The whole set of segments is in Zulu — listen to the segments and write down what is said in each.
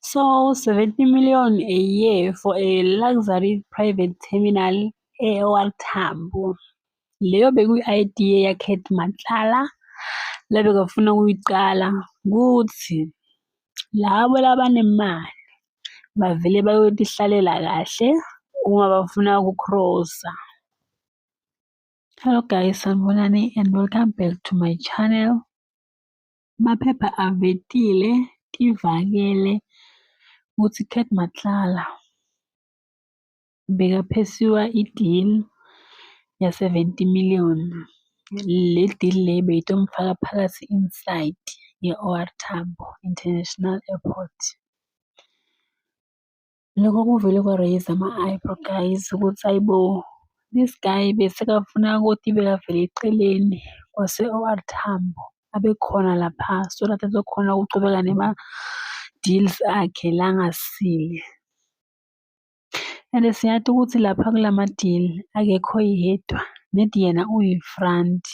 So 70 million a year for a luxury private terminal e-OR Tambo. Leyo bekuyi-idea yaKhead Matlala lebekafuna ukuyiqala kuthi labo labanemali bavele bayotihlalela kahle uma bafuna ukucrossa. Hello guys, sanibonani and welcome back to my channel. Amaphepha avetile ivakele ukuthi Cat Matlala bekaphesiwa i-deal ya-70 million. Le deal le beyitomfaka phakathi inside ye-OR Tambo International Airport. Loko kuvele kwa-raise ama-eyebrow guys ukuthi hhayi bo, this guy besekafuna ukuthi bekavele eceleni kwase-O_R Tambo, abe khona lapha so that azokhona ukuchubeka nama-deals akhe la angasile. And siyazi ukuthi lapha kulama-deal akekho yedwa, nedi yena uyi-front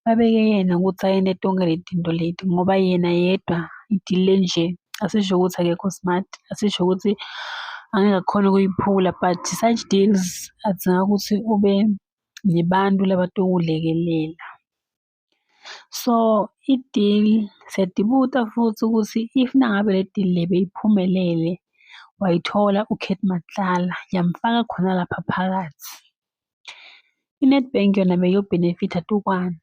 babeke yena ukuthi ayena etonge le tinto leti ngoba yena yedwa idile nje asisho ukuthi akekho smart asisho ukuthi angeke akhone ukuyiphula but such deals adzinga ukuthi ube nebantu labatokulekelela so i-deal siyadibuta futhi ukuthi if nangabe le deal le beyiphumelele wayithola ukate matlala yamfaka khona lapha phakathi I-Nedbank yona beyo-benefit-a tu kwani?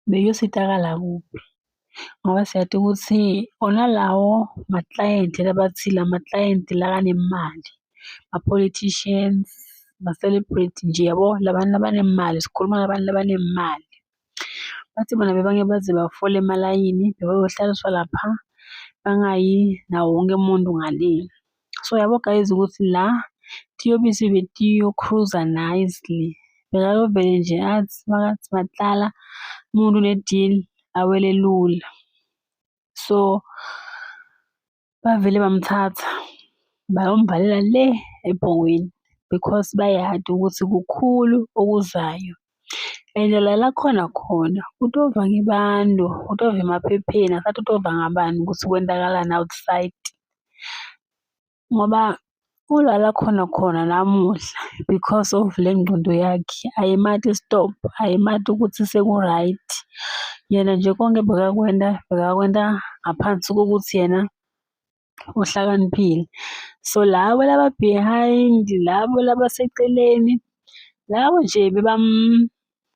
Beyositakala kuphi? Ngoba siyati ukuthi wona lawo maklayenti labathi la maklayenti la anemali, ma-politicians, ma-celebrity nje yabo, la bantu labanemali, sikhuluma ngabantu labanemali. Bathi bona bebange baze bafole emalayini bebeyohlaliswa lapha bangayi nawo wonke umuntu ngale. So yabo guys ukuthi la tiyobisi betiyokhruza nicely bekayovele nje athi makathi matlala umuntu ne-deal awele lula. So Bavele bamthatha bayomvalela le ebhongweni because bayadi ukuthi kukhulu okuzayo. And la lakhona khona utova ngebantu, utova emaphepheni, akathathi utova ngabani ukuthi kwenzakalani outside. Ngoba Ulala khona khona namuhla because of le ngqondo yakhe ayimati stop ayimati ukuthi seku-right. Yena nje konke bekakwenta bekakwenta ngaphansi kokuthi yena uhlakaniphile. So labo laba behind labo laba seceleni labo nje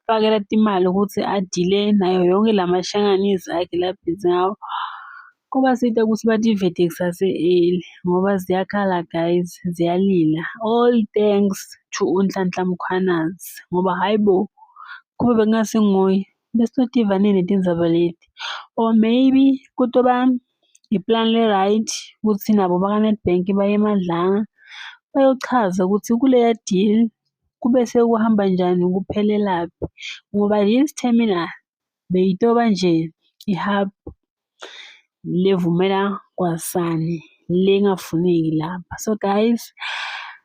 Fakela timali ukuthi adile nayo yonke la mashanganisi akhe labhizi ngawo. Kuba side ukuthi bativete kusase eli ngoba ziyakhala guys, ziyalila. All thanks to uNhlanhla Mkhwanazi ngoba hhayi bo, kube bekungasenguye besizotiva nini tindzabaleti or maybe kutoba Iplani li-right ukuthi nabo bakaNedbank baye emadlanga bayochaza ukuthi kuleya deal kube sekuhamba njani kuphelelaphi ngoba this terminal beyitoba nje i-hub levumela kwasani lengafuneki lapha. So guys